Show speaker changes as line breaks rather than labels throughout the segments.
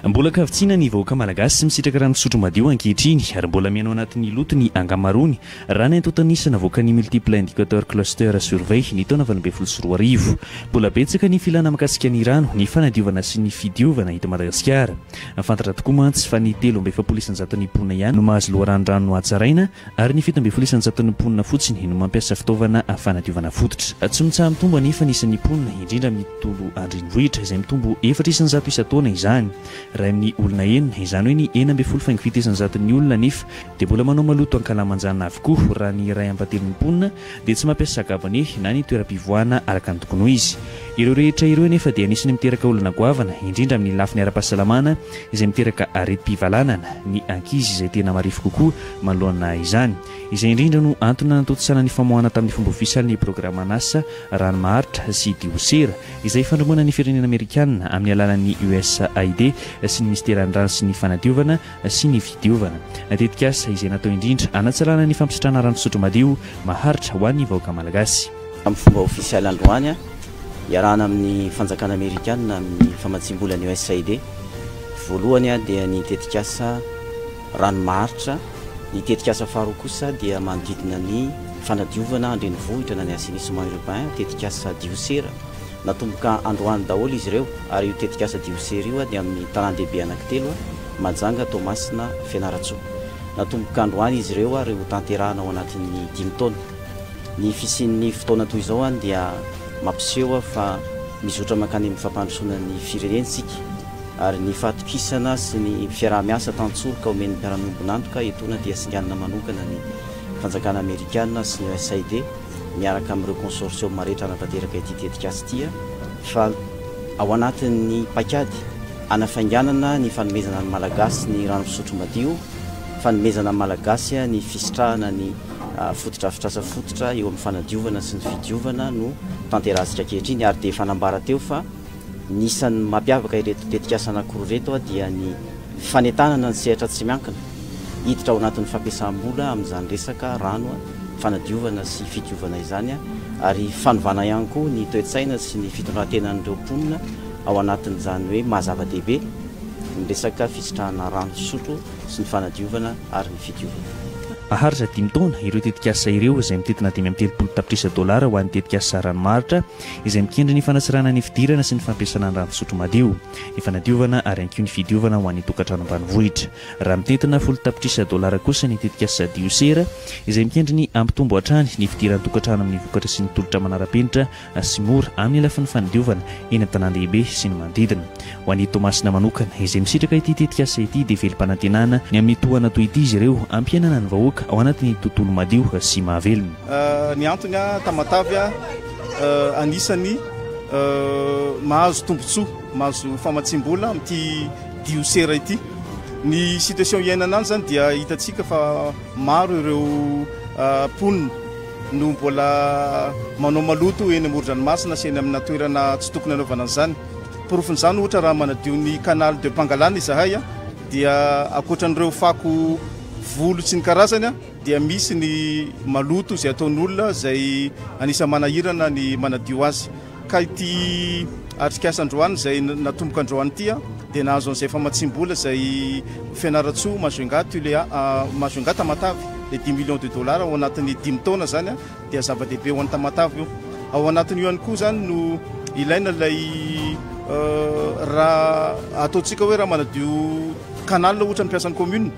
Mbola ankavitsiana ny vahoaka malagasy sy misitraka rano fisotro madio ankehitriny ary mbola mihaino anatin'ny loto ny ankamaroany raha ny antontan'isa navoakan'ny Multiple Indicator Cluster Survey ny taona valo ambin'ny folo sy roa arivo. Mbola betsaka ny filana mikasika ny rano, ny fanadiovana sy ny fidiovana eto Madagasikara. Fantatra tokoa mantsy fa ny telo amby efapolo isanjaton'ny mponina ihany no mahazo loharano rano hatsaraina Ary ny fito ambin'ny folo isan-jaton'ny mponina fotsiny no mampiasa fitaovana fanadiovana fototra. Tsy mitsaha-mitombo anefa ny isan'ny mponina, indrindra amin'ny tontolo an-drenivohitra, izay mitombo efatra isan-jato isan-taona izany. Iray amin'ny olona enina, izany hoe ny enina ambin'ny folo faingo fito isan-jaton'ny olona anefa dia mbola manao maloto ankalamanjana avokoa, raha ny iray ambatelon'ny mponina dia tsy mampiasa sakabone na ny toeram-pivoahana araka ny tokony ho izy. Ireo rehetra ireo anefa dia anisan'ny miteraka olana goavana, indrindra amin'ny lafiny ara-pahasalamana, izay miteraka aretim-pivalanana, ny ankizy izay tena marefo kokoa, Manoloana izany, izay indrindra no antony nanatontosana ny famoahana tamin'ny fomba ofisialy ny programa Nasa, Rano Maharitra sy Diosera, izay ifandrombana ny firenena amerikana amin'ny alalan'ny USAID sy ny Minisiteran'ny Rano sy ny Fanadiovana sy ny Fidiovana, tetikasa izay natao indrindra hanatsalana ny fampisitrahana rano fisotro madio, maharitra ho an'ny vahoaka malagasy. Amin'ny fomba ofisialy
androany, iarahana amin'ny fanjakana amerikana amin'ny famatsiam-bolan'ny USAID, voalohany dia ny tetikasa. Raha ny maharitra, ny tetikasa faharoa kosa dia manodidina ny fanadiovana an-drenivohitra na ny assainissement urbain, tetikasa diosera. Natomboka androany daholo izy ireo ary io tetikasa diosera io dia amin'ny tanàn-dehibe anankitelo, Mahajanga, Toamasina, Fianarantsoa. Natomboka androany izy ireo ary ho tanterahana ao anatin'ny dimy taona. Ny fisian'ny fotoana toy izao dia mampiseho fa mizotra mankany amin'ny fampandrosoana ny firenentsika. ary ny fahatokisana sy ny fiaraha-miasa tantsoroka omen'ny mpiara-miombon'antoka etoana dia singanina manokana ny fanjakana amerikana sy ny USAID miaraka amin'ireo consortium rehetra hanatanteraka ity tetikasa ity fa ao anatin'ny paikady hanafainganana ny fanomezana ny Malagasy ny rano fisotro madio, fanomezana ny Malagasy ny fisitrahana ny fotodrafitrasa fototra eo amin'ny fanadiovana sy ny fidiovana no tanterahasika ankehitriny ary dia efa nambara teo fa. Ny isan'ny mampiavaka ireto tetikasa anankiroa ireto dia ny fanentanana ny sehatra tsy miankina hiditra ao anatin'ny fampiasam-bola amin'izany resaka rano fanadiovana sy fidiovana izany ary fanovana ihany koa ny toe-tsaina sy ny fitondran-tenan'ireo mponina ao anatin'izany hoe maha-zava-dehibe ny resaka fisitrahana rano fisotro sy ny fanadiovana ary ny fidiovana. Maharitra dimy
taona ireo tetikasa ireo izay mitentina dimy amby telopolo tapitrisa dolara ho an'ny tetikasa ranomaritra izay mikendry ny fanasirana ny fidirana sy ny fampiasana ny rano fisotro madio, ny fanadiovana ary ihany koa ny fidiovana ho an'ny tokantrano ambanivohitra. Raha mitentina folo tapitrisa dolara kosa ny tetikasa Diosera, izay mikendry ny hampitombo hatrany ny fidiran'ny tokantrano amin'ny vokatra sy ny tolotra manara-penitra sy mora amin'ny lafiny fanadiovana eny an-tanàn-dehibe sy ny manodidina. Ho an'i Toamasina manokana, izay misitraka ity tetikasa ity, dia velom-panantenana ny amin'ny tohana toy ity izy ireo hampihenana ny vahoaka ao anatin'ny tontolo madio sy mahavelona. Ny antony,
Tamatave anisan'ny mahazo tombontsoa, mahazo famatsiam-bola amin'ity diosera ity. Ny situation iainana any izany dia hitantsika fa maro ireo mponina no mbola manao maloto eny amoron-dranomasina sy eny amina toerana tsy tokony hanaovana an'izany. Porofon'izany ohatra raha manadio ny canal de Pangalana izahay dia ankoatra an'ireo fako volo sy ny karazany dia misy ny maloto izay ataon'olona izay anisan'ny manahirana ny manadio azy. Ka ity atrikasa androany izay natomboka androany ity dia nahazo an'izay famatsiam-bola izay Fianarantsoa Majunga Tulea Majunga Tamatave dia dimy millions de dollars ao anatin'ny dimy taona izany dia zava-dehibe ho an'i Tamatave io. Ao anatin'io ihany koa izany no ilaina ilay raha ataontsika hoe raha manadio canal ohatra ny mpiasan'ny commune.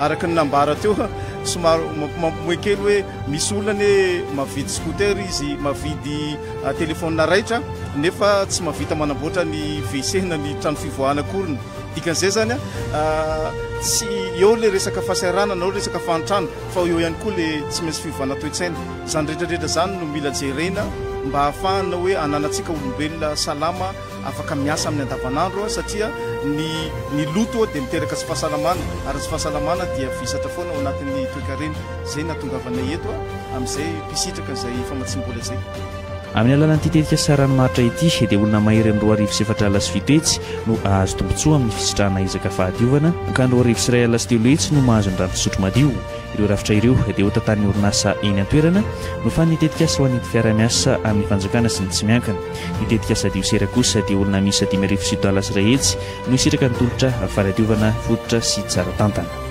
Araka ny nambara teo, somary mampimoe kely hoe misy olona anie mavidy scooter izy, mavidy telefaonina raitra nefa tsy mahavita manamboatra ny WC na ny trano fivoahana akoriny. Dikan'izay izany, tsy eo ilay resaka fahasahiranana na resaka fahantrana fa eo ihany koa ilay tsy maintsy fiovana toe-tsaina. Izany rehetra rehetra izany no mila jerena mba hahafahana hoe ananantsika olombelona salama. Afaka miasa amin'ny andavanandro aho satria ny ny loto dia miteraka tsy fahasalamana ary tsy fahasalamana dia visatra foana ao anatin'ny toekarena. Izay no nahatongavanay eto amin'izay mpisitraka izay famatsiam-bola izay. Amin'ny alalan'ity
tetika Saran Martra ity dia olona mahery amin'ny roa arivo sy efatra alina sy fito hetsy no hahazo tombontsoa amin'ny fisitrahana ezaka fahadiovana, mankany roa arivo sy iray alina sy telo hetsy no mahazo ny rano fisotro madio. Ireo rafitra ireo dia hotantanin'ny orinasa eny an-toerana, nofanin'ny tetikasa ho an'ny Entifiarahamiasa amin'ny Fanjakana sy ny Tsy miankina. Ny tetikasa Diosera kosa dia olona miisa dimy arivo sy talas iray hetsy no hisitraka ny tolotra fanadiovana fototra sy tsara tantana.